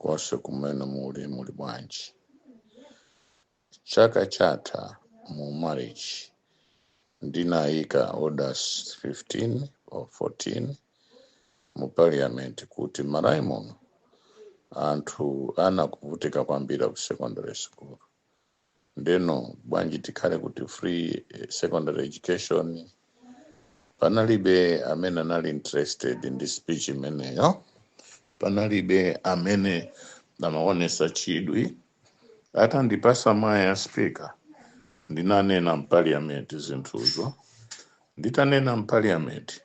konse kumene muli muli bwanji chaka chatha mu march ndinayika orders 15 or 14 mu parliament kuti malawi muno anthu athu akuvutika kwambiri ku secondary school ndeno bwanji tikhale kuti free eh, secondary education panalibe amene anali interested ndi speech imeneyo panalibe amene amaonesa chidwi atandipasa mwayi wa speaker ndinanena mpaliyamenti zinthuzo nditanena mpaliyamenti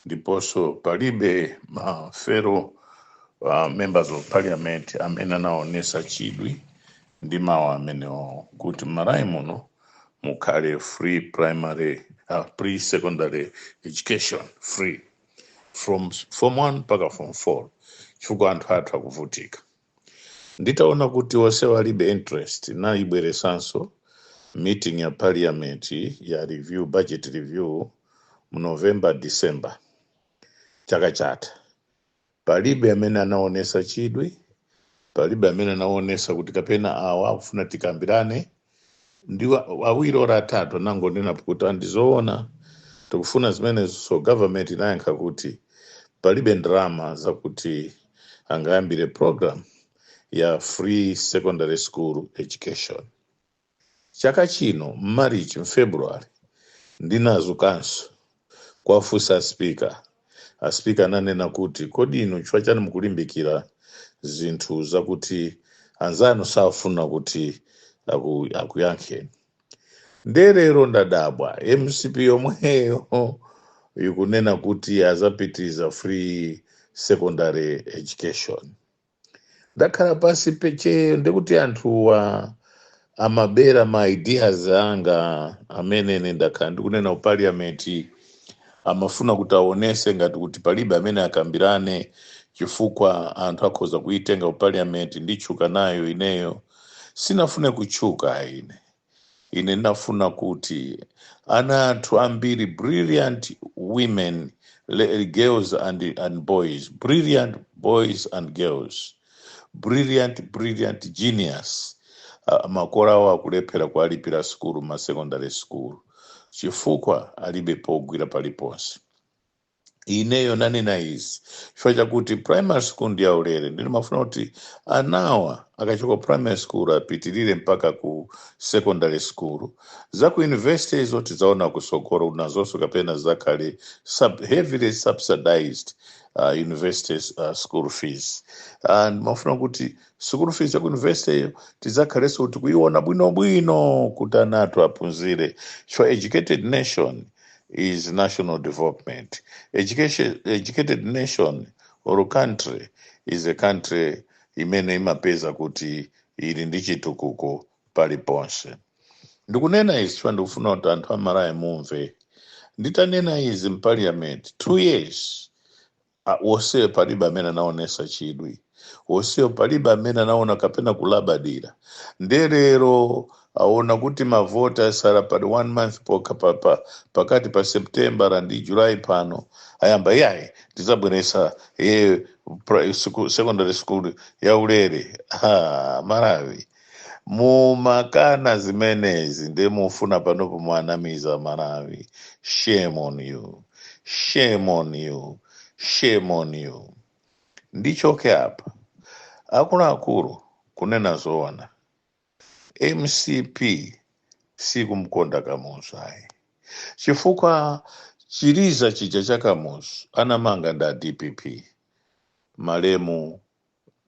ndiponso palibe ma fellow uh, members of parliament amene anaonesa chidwi ndi mawu amenewo kuti m'malawi muno mukhale free primary uh, free secondary education free from form 1 mpaka form 4 chifukwa anthu athu akuvutika nditaona kuti onsewo alibe interest ndinaibweresanso meeting ya parliament ya review budget review mu november december chaka chatha palibe amene anaonesa chidwi palibe amene anaonesa kuti kapena awa akufuna tikambirane ndi wa- awiri ora atatu anangondiuza kuti aa ndizoona tikufuna zimenezo so government inayankha kuti palibe ndalama zakuti angayambire program ya free secondary school education chaka chino m'marichi mfebruary ndinadzukanso kuwafunsa speaker a speaker ananena kuti kodi inu chifukwa chani mukulimbikira zinthu zakuti anzanu safuna kuti aku, akuyankheni nde lero ndadabwa mcp yomweyo ikunena kuti azapititsa free secondary education ndakhala pasi pa tcheyo ndikuti anthuwa amabera ma ideas anga amene ine ndakhala ndikunena ku parliament amafuna kuti aonese ngati kuti palibe amene akambirane chifukwa anthu akhoza kuitenga ku parliament nditchuka nayo ineyo sindinafune kutchuka ine Ine ndinafuna kuti ana athu ambiri brilliant women le, girls and, and boys brilliant boys and girls brilliant brilliant genius uh, makolo awo akulephera kuwalipira sukulu ma secondary school chifukwa alibe pogwira paliponse Ineyo nanena izi chifukwa chakuti primary school ndi yaulere nde ndimafuna kuti anawa akachoka ku primary school apitirire mpaka ku secondary school. Za ku university izo tidzaona kusogoro nazonso kapena zidzakhale sub, heavily subsidized uh, university uh, school fees. Uh, ndimafuna kuti school fees ya ku university iyo tidzakhalenso kuti kuiona bwinobwino kuti ana athu aphunzire so educated nation is national development education educated nation or country is a country imene imapeza kuti ili ndi chitukuko paliponse ndikunena izi chifukwa ndikufuna kuti anthu aMalawi mumve nditanena izi m'parliament two years a onsewo palibe amene anaonesa chidwi onsewo palibe amene anaona kapena kulabadira nde lero aona kuti mavoti asala ndi one month pokha pa, pa, pakati pa septembala ndi julayi pano ayamba yayi tizabweresa e, pra, siku, secondary school yaulere ha, malawi mumakana zimenezi nde mufuna panopo muwanamize aMalawi shame on you shame on you shame on you ndichoke apa akuluakulu kunena zoona mcp sikumkonda kamuzu ayi chifukwa chiliza chija cha kamuzu anamanga nda DPP malemu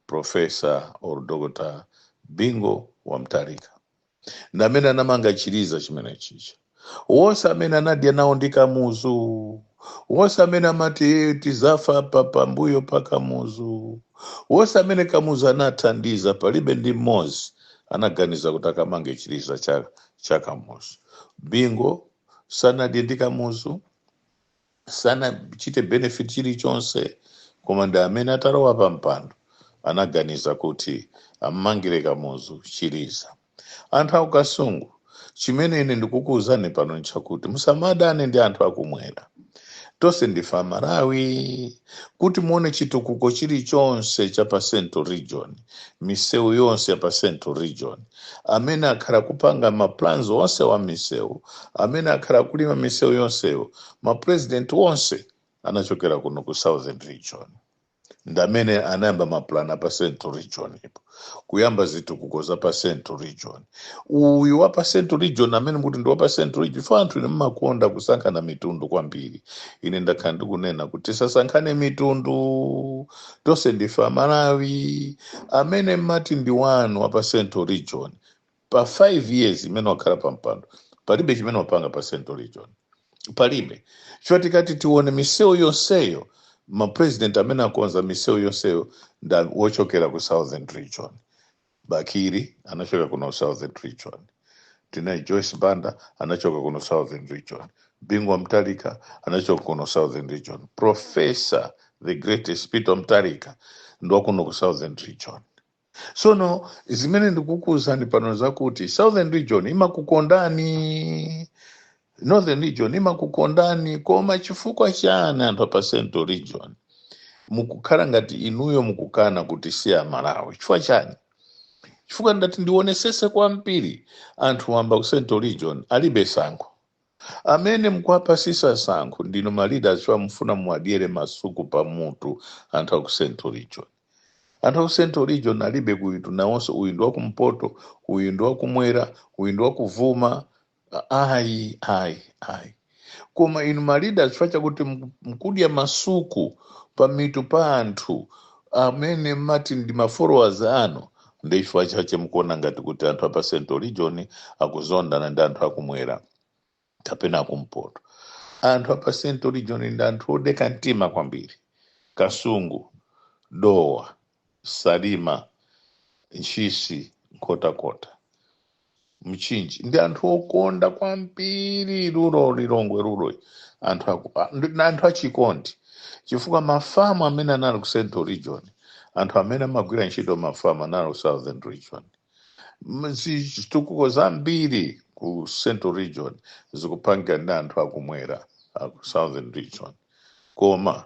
professor or dr Bingu wa Mutharika ndi amene anamanga chiliza chimene chija wonse amene anadya nawo ndi kamuzu wonse amene amati "Eh, tizafa papambuyo pa kamuzu wonse amene kamuzu anathandiza palibe ndi mmodzi anaganiza kuti akamange chiliza cha, cha kamuzu Bingu sanadye ndi kamuzu sanachite benefit chilichonse koma ndi amene atalowa pa mpando anaganiza kuti ammangire kamuzu chiliza anthu akukasungu chimene ine ndikukuwuzani pano nchakuti musamadane ndi anthu akumwera tonse ndife amalawi kuti muone chitukuko chilichonse cha pa central region misewu yonse ya pa central region amene akhala akupanga ma plans onsewa misewu amene akhala akulima misewu yonseyo ma president onse anachokera kuno ku southern region ndamene anayamba mapulani apa central region ipo kuyamba zitukuko za pa central region uyu wa pa central region amene muti ndi wa pa central region chifukwa anthu ine mmakonda kusankhana mitundu kwambiri ine ndakhala ndikunena kuti tisasankhane mitundu tonse ndife amalawi amene mmati ndi wanu wa pa central region pa 5 years imene wakhala pa mpando palibe chimene wapanga pa central region palibe chifukwa tikati tione misewu yonseyo mapresident amene akonza misewu yonseyo ndi ochokera ku southern region Bakili anachoka kuno southern region tinali joyce banda anachoka kuno southern region bingu wa mtalika anachoka kuno southern region professor the greatest peter mtalika ndi wa kuno ku southern region sono zimene ndikukuuzani pano zakuti southern region imakukondani northern region imakukondani koma chifukwa chani anthu apa central region mukukhala ngati inuyo mukukana kuti si amalawi chifukwa chani chifukwa ngati ndionesese kwambiri anthu wamba aku central region alibe sankho amene mkuwapasisa sankho ndinu ma leaders chifukwa mufuna muwadyere masuku pa mutu anthu aku central region anthu aku central region alibe kuti nawonso uyu ndi wakumpoto uyu ndi wakumwera uyu ndi wakuvuma ayi ayi ayi koma inu ma leaders chifukwa chakuti mku- mkudya masuku pamitu pa anthu amene mati ndi mafollowers anu ndi chifukwa chache mukuona ngati kuti anthu apa central region akuzondana ndi anthu akumwera kapena akumpoto anthu apa central region ndi anthu odeka mtima kwambiri kasungu dowa salima ntchisi nkhotakota mchinji ndi anthu okonda kwambiri rural lilongwe rural anthu aku- a- ndi- ndi anthu achikondi chifukwa mafamu amene anali ku central region anthu amene amagwira ntchito mafamu anali ku southern region M- zi- zitukuko zambiri ku central region zikupangidwa ndi anthu akumwera aku southern region koma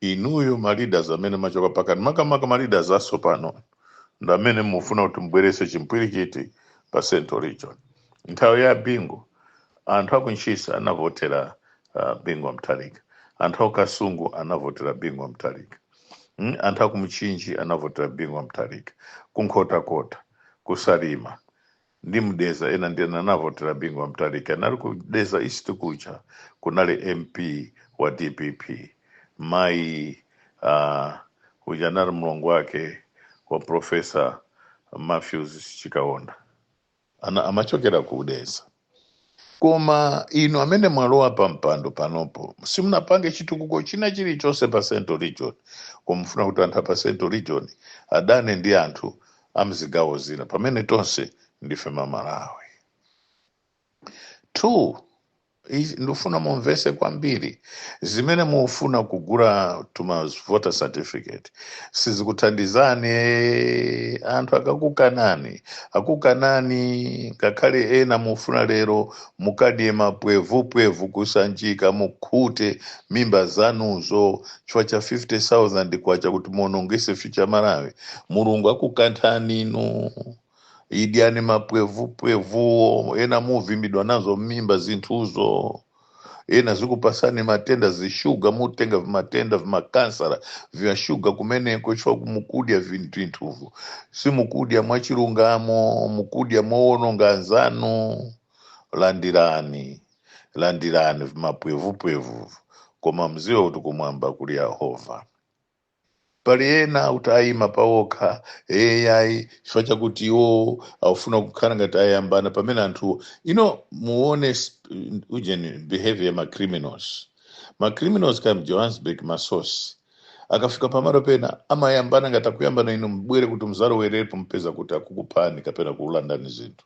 inuyo ma leaders amene machoka pakati makamaka ma leaders asopano ndi amene mufuna kuti mubwerese chimpwirikiti pa central region nthawi ya bingu anthu akuntchisa anavotera uh, bingu wa mtalika anthu akukasungu anavotera bingu wa mtalika mm? anthu akumchinji anavotera bingu wa mtalika kunkhotakota kusalima ndi mdedza ena ndi ena anavotera bingu wa mtalika anali ku dedza east kuja kunali mp wa dpp mayi uh, uja anali mlongo wake wa profesa matthews chikaonda ana amachokera ku dedza koma inu amene mwalowa pa mpando panopo simunapange chitukuko china chilichonse pa central region koma mufuna kuti anthu apa central region adane ndi anthu amzigawo zina pamene tonse ndife amalawi two izi ndifuna mumvese kwambiri zimene mufuna kugula tuma voter certificate sizikuthandizani eh, anthu akakukanani akukanani ngakhale ena mufuna lero mukadye mapwevupwevu kusanjika mukhute mimba zanuzo chifukwa cha 50000 kwacha kuti muonongese future ya malawi mulungu akukanthani inu idyani mapwevupwevuwo ena muvimbidwa nazo mmimba zinthuzo ena zikupasani matenda zishuga mutenga vimatenda vimakansara vya shuga kumeneko chifukwa kumukudya vinthu vinthuvo simukudya mwachilungamo mukudya mowononga anzanu landirani landirani vimapwevupwevu koma mziwe kuti kumwamba kuli yehova pali ena akuti ayima pawokha ai chifukwa chakuti iwo akufuna kukhala ngati ayambana pamene anthuwo you know muone sp- ujeni behavior ya macriminals macriminals kaya mjohannesburg matsotsi akafika pamalo pena amayambana ngati akuyambana inu mubwere kuti muzalowerepo mupeza kuti akukuphani kapena kukulandani zinthu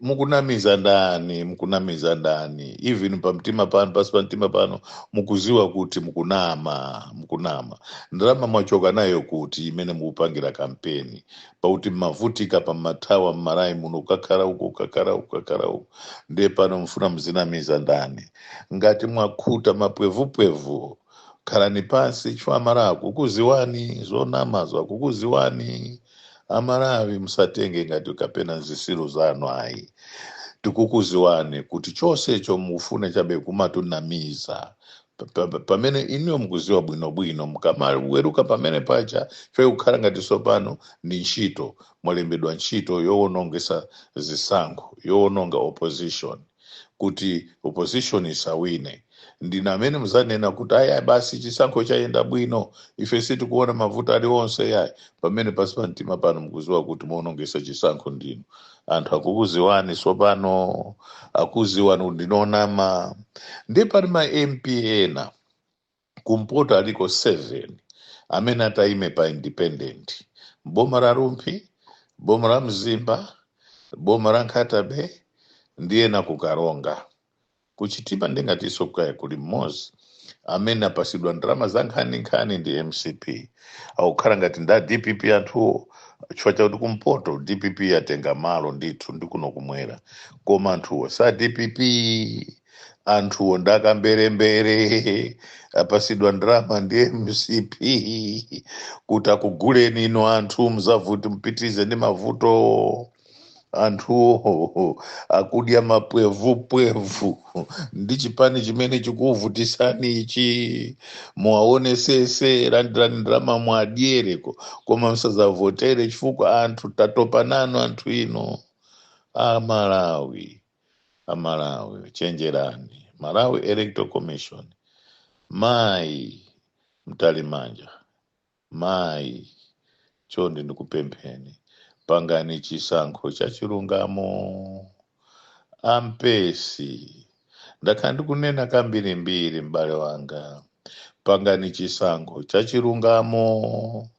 mukunamiza ndani mukunamiza ndani even pamtima panu pasi pa mtima panu mukuziwa kuti mukunama mukunama ndalama mwachoka nayo kuti imene mukupangira kampeni pakuti mmavutika mmathawa mmalawi muno ukakhala uko ukakhala uko ukakhala uko ndiye pano mfuna muzinamiza ndani ngati mwakhuta mapwevupwevu khalani pansi chifukwa amalawi akukuziwani zonamazo akukuziwani amalawi musatitenge ngati kapena zisilu zanu ayi tikukuziwani kuti chosecho mufune chabe kumatunamiza Pa- pa- pa- pamene inuyo mukuziwa bwinobwino mukamaweruka pamene paja fe kukhala ngati sopano ndi ntchito mwalembedwa ntchito yowonongesa zisankho yowononga opposition kuti opposition isawine ndinu amene muzanena kuti ayi ayi, basi chisankho chayenda bwino ife sitikuona mavuto ali onse yayi pamene pasi pa mtima panu mukuziwa kuti muonongesa chisankho ndinu anthu akukuziwani sopano akuziwani kuti ndinu onama nde pali ma mp ena kumpoto aliko 7 amene atayime pa independent m'boma la rumphi boma la mzimba boma la nkhata bay ndi ena ku karonga ku chitipa ndingatiso kaya kuli mmodzi amene apasidwa ndalama za nkhaninkhani ndi mcp akukhala ngati nda dpp anthuwo chifukwa chakuti kumpoto dpp yatenga malo ndithu ndi kuno kumwera koma anthuwo sa dpp anthuwo ndakamberembere apasidwa ndalama ndi mcp kuti akuguleni ino anthu mzavote mpitirize ndi mavutowo anthuwo akudya mapwevupwevu ndi chipani chimene chikuvutisani ichi muwaonesese landirani ndalama muwadyereko koma msazavotere chifukwa anthu tatopa nanu anthu ino a malawi amalawi chenjerani malawi electoral commission mayi mtalimanja mayi chonde ndikupempheni pangani chisankho cha chilungamo ampesi ndakhala ndikunena kambirimbiri m'bale wanga pangani chisankho cha chilungamo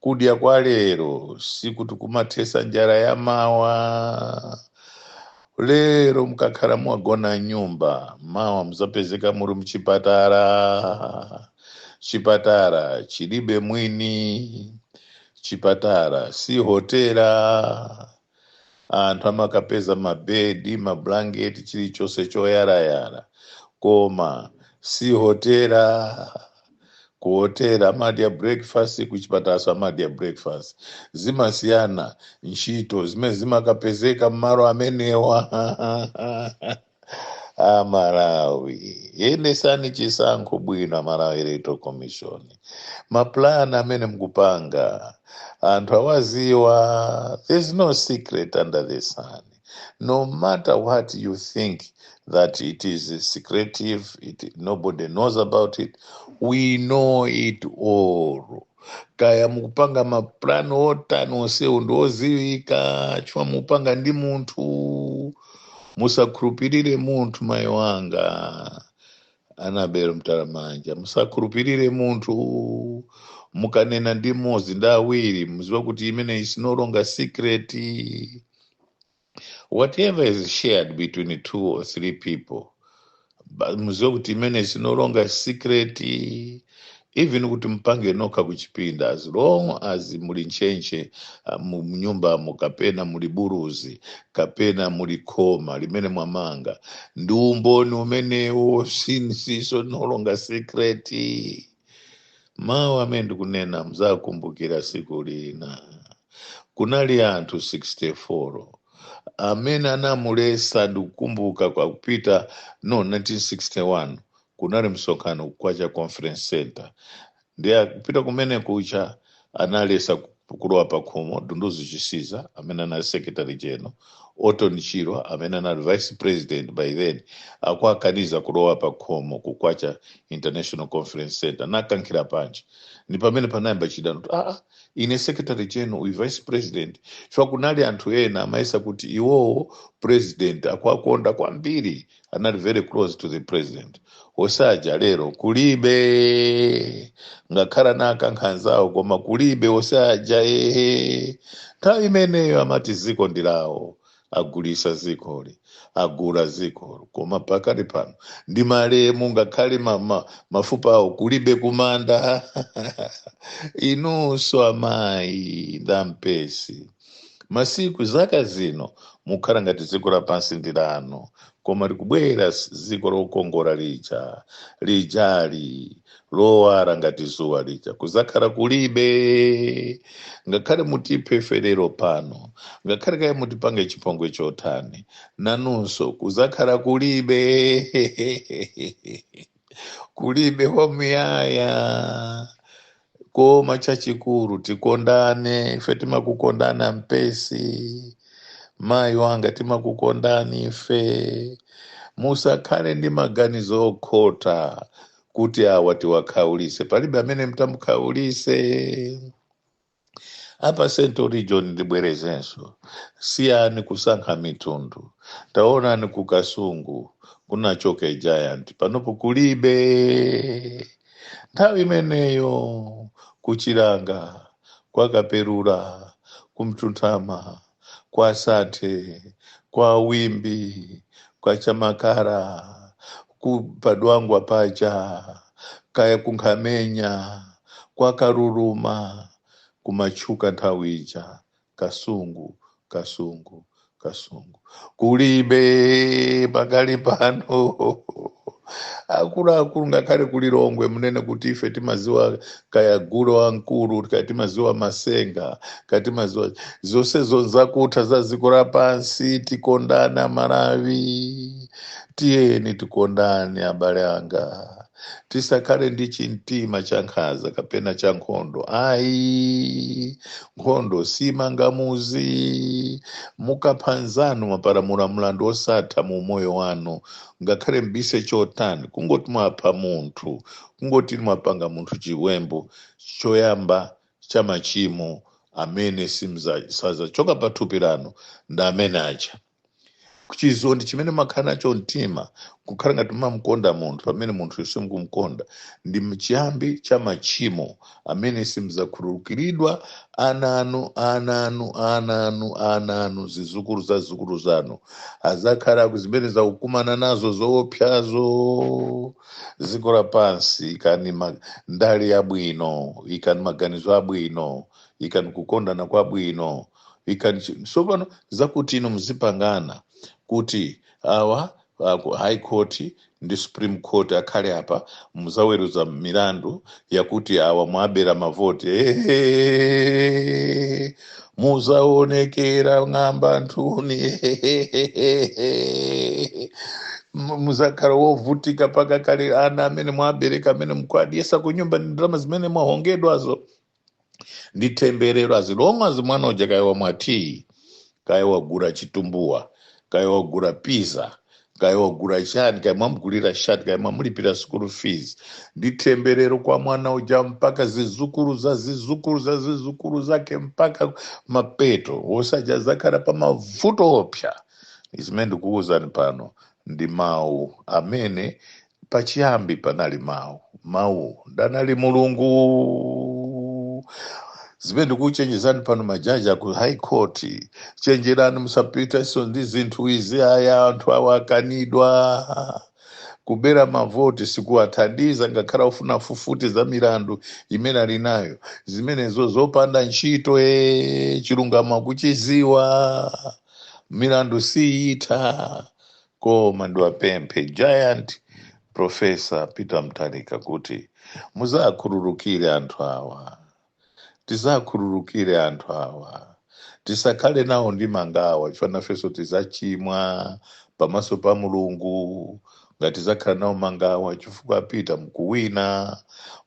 kudya kwa lero sikuti kumathesa njala ya mawa lero mkakhala mwagona mnyumba mawa muzapezeka muri mchipatala chipatala chilibe mwini chipatala si hotela anthu amakapeza mabedi mablanketi chilichonse choyarayara koma si hotela ku hotela amadya breakfast ku chipatalaso amadya breakfast zimasiyana ntchito zimene zimakapezeka mmalo amenewa amalawi yendesani chisankho bwino amalawi electoral commission mapulani amene mukupanga anthu awaziwa there's no secret under the sun no matter what you think that it is secretive nobody knows about it we know it all kaya mukupanga mapulani otani onsewo ndi oziwika chifukwa mukupanga ndi munthu musakhulupirire munthu mayi wanga anabel mtalamanja musakhulupirire munthu mukanena ndi mmodzi ndi awiri muziwa kuti imene is no longer secret whatever is shared between two or three people Ba- muziwe kuti imeneyi is no longer a secret even kuti mpange nokha kuchipinda as long as muli ntchentche ah, mu mnyumbamo kapena muli buluzi kapena muli khoma limene mwamanga ndi umboni umenewo si chinsinsinso no longer secret mawu amene ndikunena mudzakumbukira tsiku lina kunali anthu 64 amene anamuletsa ndikukumbuka kwa kupita no 1961 kunali msonkhano Kwacha conference center ndi akupita kumene ku Kwacha analetsa kulowa pa khomo Dunduzu Chisiza amene anali secretary general Orton Chirwa amene anali vice president by then akuwakaniza kulowa pa khomo ku Kwacha international conference center nawakankhira panja ndi pamene panayamba chidani kuti aa ine secretary general uyu vice president chifukwa kunali anthu ena amayesa kuti iwowo president akuwakonda kwambiri anali very close to the president osaja lero kulibe ngakhale anakankha anzawo koma kulibe osaja ehe nthawi imeneyo amati dziko ndi lawo agulitsa dzikoli agula dzikoli koma pakali pano ndi malemu ngakhale ma, ma, mafupa awo kulibe kumanda inunso amayi nda Mpesi masiku zaka zino mukhala ngati dziko lapansi ndi lanu koma likubwera s- dziko lokongola lija lijali lowala ngati dzuwa lija kudzakhala kulibe ngakhale mutiphe ife lero pano ngakhale kaye mutipange chipongwe chotani nanunso kudzakhala kulibe kulibe wamuyaya koma chachikulu tikondane ife timakukondani a Mpesi mayi wanga timakukondani ife musakhale ndi maganizo okhota kuti awa tiwakhaulitse palibe amene mutamukhaulitse apa central region ndibwerezenso siyani kusankha mitundu taonani ku Kasungu kunachoka giant panopo kulibe nthawi imeneyo ku Chilanga kwa Kapelula ku Mtunthama kwa Santhe kwa Wimbe kwa Chamakala kupa Dwangwa paja kaya ku Nkhamenya kwa Kaluluma kumatchuka nthawi ija kasungu kasungu kasungu kulibe pakali pano akuluakulu ngakhale ku Lilongwe mmene kuti ife timaziwa kaya gule wamkulu kaya timaziwa masenga kaya timaziwa zonse zonse n'zakutha za dziko lapansi tikondane aMalawi tiyeni tikondane abale anga tisakhale ndi chimtima cha nkhanza kapena cha nkhondo ayi nkhondo simanga muzi mukapha nzanu mapalamula mlandu osatha mu umoyo wanu ngakhale mbise chotani kungoti mwapha munthu kungoti mwapanga munthu chiwembu choyamba cha machimo amene simza- sazachoka pa thupi lanu ndi amene aja chidani chimene mumakhala nacho mumtima kukhala ngati mumamkonda munthu pamene munthuyo simukumkonda ndi mchiyambi cha machimo amene simzakhululukiridwa ana anu ana anu ana anu ana anu zizukulu za zizukulu zanu azakhala azimene azakukumana nazo zoopsazo dziko lapansi ikani ndale zabwino ikani maganizo abwino ikani kukondana kwabwino ikani chi- tsopano zakuti inu muzipangana kuti awa a ku high court ndi supreme court akhale apa muzaweruza milandu yakuti awa mwabera mavoti Ehehehe. muzaonekera ng'amba inu Ehehehe. Mu- muzakhala wovutika mpaka kale ana amene mwabereka amene mukuwadyesa kunyumba ndi ndalama zimene mwahongedwazo ndi temberero as long as mwana uja kaya wamwa tiyi kaya wagula chitumbuwa kaya wagula pizza kaya wagula chani kaya mwamugulira shati kaya mwamulipira school fees ndi temberero kwa mwana uja mpaka zizukulu za zizukulu za zizukulu zake mpaka mapeto osatha azakhala pa mavuto oopsa zimene ndikuwuzani pano ndi mawu amene Pachiyambi panali Mawu, Mawuwo ndi anali Mulungu. Zimene ndikuchenjezani pano majaji a ku High Court, chenjerani musapitenso ndi zinthu izi. Aya anthu awa akanidwa kubera mavoti sikuwathandiza ngakhale ofuna afufute za milandu imene ali nayo zimenezo zopanda ntchito e chilungamo akuchiziwa milandu siyitha koma ndiwapemphe giant professor peter mtalika kuti muzakhululukire anthu awa tizakhululukire anthu awa tisakhale nawo ndi mangawa chifukwa nafenso tizachimwa pamaso pa mulungu ngati tizakhala nawo mangawa chifukwa a peter mkuwina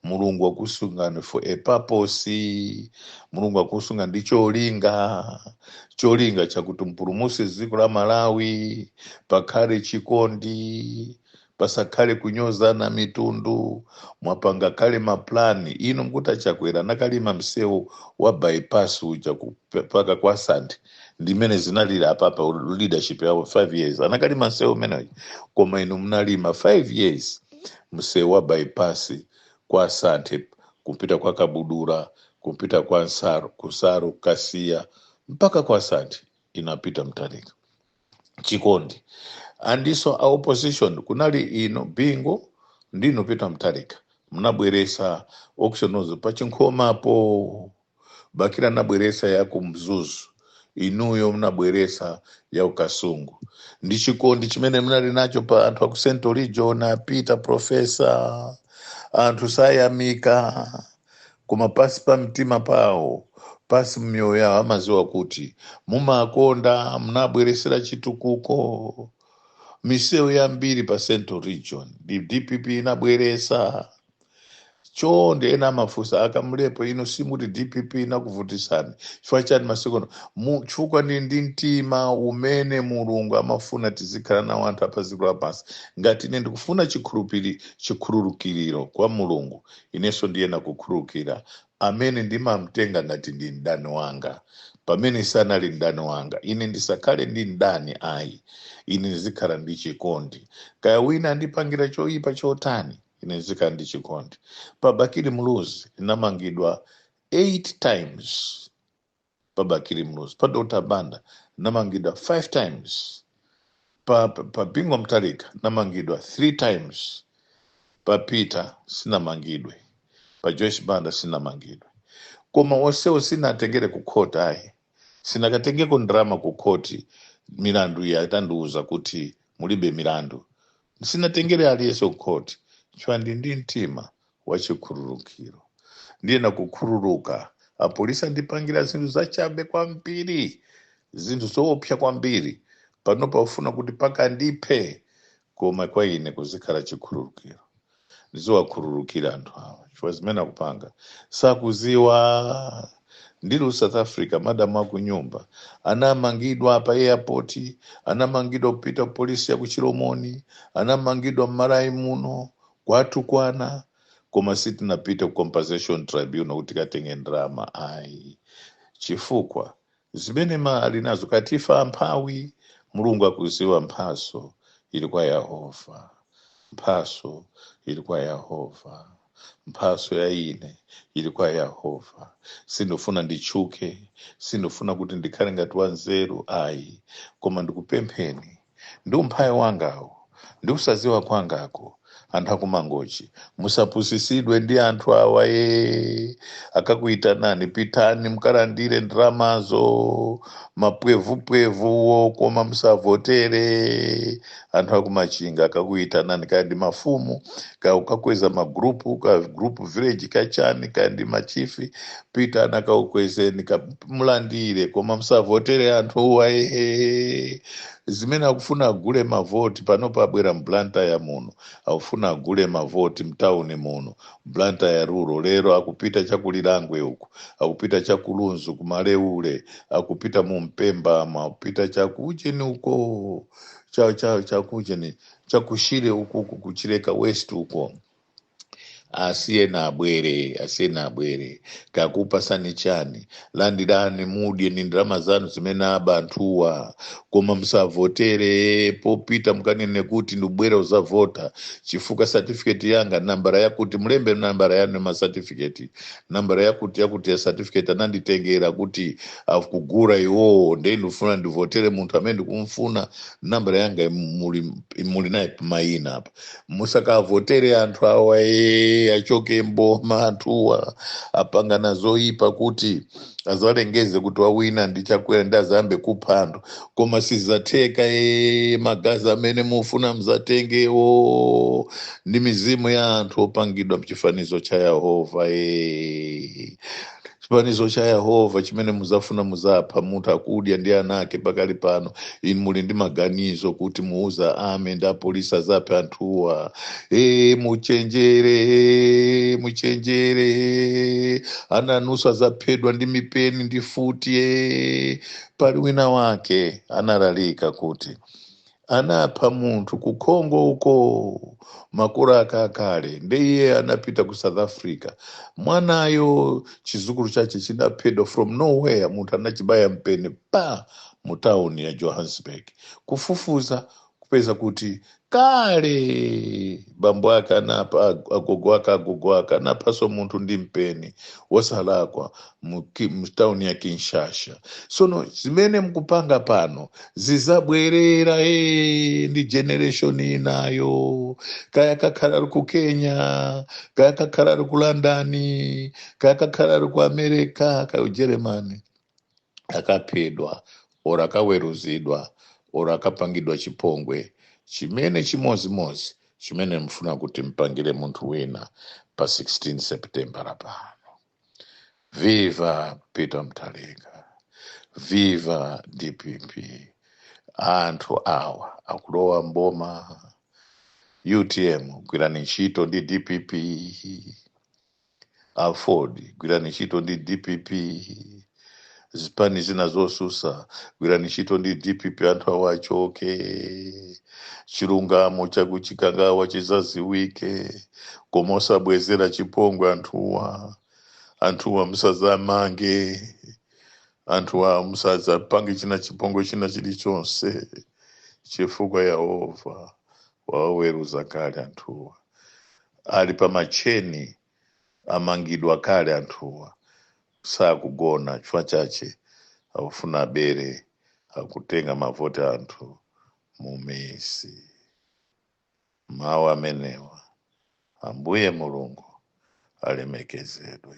mulungu wakusungani for a purpose mulungu akusunga ndi cholinga cholinga chakuti mpulumuse dziko la malawi pakhale chikondi pasakhale kunyozana mitundu mwapanga kale maplani inu mkuti achakwera akanalima msewu wa bypass uja mpaka kwa santhe ndimene zinalili apapa leadership yawo 5 years akanalima msewu umenewo koma inu mnalima 5 years msewu wa bypass kwa santhe kupita kwa kabudula kupita kwa nsaru kwa nsaru kasiya mpaka kwa santhe inu a peter mtalika chikondi anthuso a opposition kunali inu bingo ndi inu a peter mtalika mnabweresa auction floors pa chinkhomapo bakili anabweresa ya kumzuzu inuyo mnabweresa ya kukasungu ndi chikondi chimene mnali nacho pa anthu aku central region a peter profesa anthu sayamika koma pasi pa mtima pawo pasi mmiyoyo yawo amaziwa kuti mumakonda munabweresera chitukuko misewu yambiri pa central region ndi dpp inabweresa choncho ndiye ena amafunsa a kamlepo inu simuti dpp inakuvutisani chifukwa chani masikono Mu- chifukwa ndi ndi mtima umene mulungu amafuna tizikhala nawo anthu apa dziko lapansi ngati ine ndikufuna chikhulupiri chikhululukiriro kwa mulungu Inenso ndiyenera kukhululukira, amene ndimamtenga ngati ndi mdani wanga, pamene sanali mdani wanga. Ine ndisakhale ndi mdani ai, ine ndizikhala ndi chikondi. Kaya wina andipangira choipa chotani, ine ndizikhala ndi chikondi. Pa Bakili Muluzi ndinamangidwa 8 times. pa bakili muluzi pa dr banda namangidwa 5 times pa, pa, pa bingo mtalika namangidwa 3 times pa peter sinamangidwe pa joyce banda sinamangidwe koma onsewo sinatengere ku court ayi sinakatengeko ndrama ku court milandu iyo atandiuza kuti mulibe milandu sinatengere aliyense ku court chifukwa ndi ndi mtima wachikhululukiro ndiyena kukhululuka apolisi andipangira zinthu zachabe kwambiri zinthu zoopsa kwambiri pano pakufuna kuti paka ndiphe koma kwa ine kuzikhala chikhululukiro ndiziwakhululukira anthu awa chifukwa zimene akupanga sakuziwa ndili south africa madamu akunyumba anamangidwa pa airport anamangidwa kupita ku polisi ya ku chilomoni anamangidwa mmalawi muno kwathu kuno koma sitinapite ku compensation tribunal kuti tikatenge ndalama ayi chifukwa zimene timaona ali nazo kwa ife amphawi mulungu akuziwa mphaso ili kwa yehova mphaso ili kwa yehova mphaso ya ine ili kwa yehova sindifuna nditchuke sindifuna kuti ndikhale ngati wanzeru ayi koma ndikupempheni ndi umphawi wangawu ndi kusadziwa kwangaku anthu akumangochi musapusitsidwe ndi anthu awa akakuitanani pitani mkalandire ndramazo mapwevupwevuwo koma musavotere anthu akumachinga akakuitanani kaya ndi mafumu kaya akukweza magrupu ka group village kachani kaya ndi machifi pitani akakukwezeni mulandire koma musavotere anthu awa ehe zimene akufuna agule mavoti pano pabwera mblantyre muno akufuna agule mavoti mtauni muno mblantyre rural lero akupita chakulilangwe uku akupita chakulunzu kumaleule akupita mu mpemba uma akupita chakujeni uko cha, cha, chakujeni chakushire uku uku kuchileka west uko asiyeni abwere asiyeni abwere kaya akupasani chani landirani mudye ni ndalama zanu zimene aba anthuwa koma musavotere popita mukanene kuti ndabwera kuzavota chifukwa satifiketi yanga nambara yakuti mulembe nambara yanu ya masatifiketi nambara yakuti yakuti ya satifiketi ananditengera kuti akugura iwowo nde ndikufuna ndivotere munthu amene ndikumfuna nambara yanga muli, muli naye pamayina apa musakavotere anthu awa ee achoke mboma anthuwa apangana zoyipa kuti azalengeze kuti wawina ndi chakwera nde azayambe kupha anthu koma sizatheka ee magazi amene mufuna mzatengewo ndi mizimu ya anthu opangidwa mchifanizo cha yehova ee chifanizo cha yehova chimene muzafuna muzapha munthu akudya ndi ana ake pakali pano muli ndi maganizo kuti muuza army ndi apolisi azaphe anthuwa e, muchenjere e, muchenjere e, ana anuso azaphedwa ndi mipeni ndi mfuti e. pali wina wake analalika kuti anapha munthu ku congo uko makolo ake akale nde iye anapita ku south africa mwanayo chizukulu chache chinaphedwa from nowhere munthu anachibaya mpeni pa mu town ya johannesburg kufufuza kupeza kuti kale bambo ake anapha agogo ake agogo ake anaphanso munthu ndi mpeni wosalakwa mu ki- mu town ya kinshasa sono zimene mukupanga pano zizabwerera ee ndi generation inayo kaya kakhala ali ku kenya kaya kakhala ali ku london kaya kakhala ali ku america kaya ujeremani akaphedwa or akaweruzidwa or akapangidwa chipongwe chimene chimodzimodzi chimene mufuna kuti mumpangire munthu wina pa 16 september pano Viva Peter Mutharika, viva DPP. Anthu awa akulowa mboma UTM gwirani ntchito ndi DPP, Aford gwirani ntchito ndi DPP, zipani zina zosusa gwirani ntchito ndi dpp anthu awa achoke chilungamo chakuchikangawa chizaziwike koma osabwezera chipongwe anthuwa anthuwa musazamange anthuwa musazapange china chipongwe china chilichonse chifukwa yehova wawaweruza kale anthuwa ali pa macheni amangidwa kale anthuwa sakugona chifukwa chache akufuna abere akutenga mavoti a anthu mumisi mawu amenewa ambuye mulungu alemekezedwe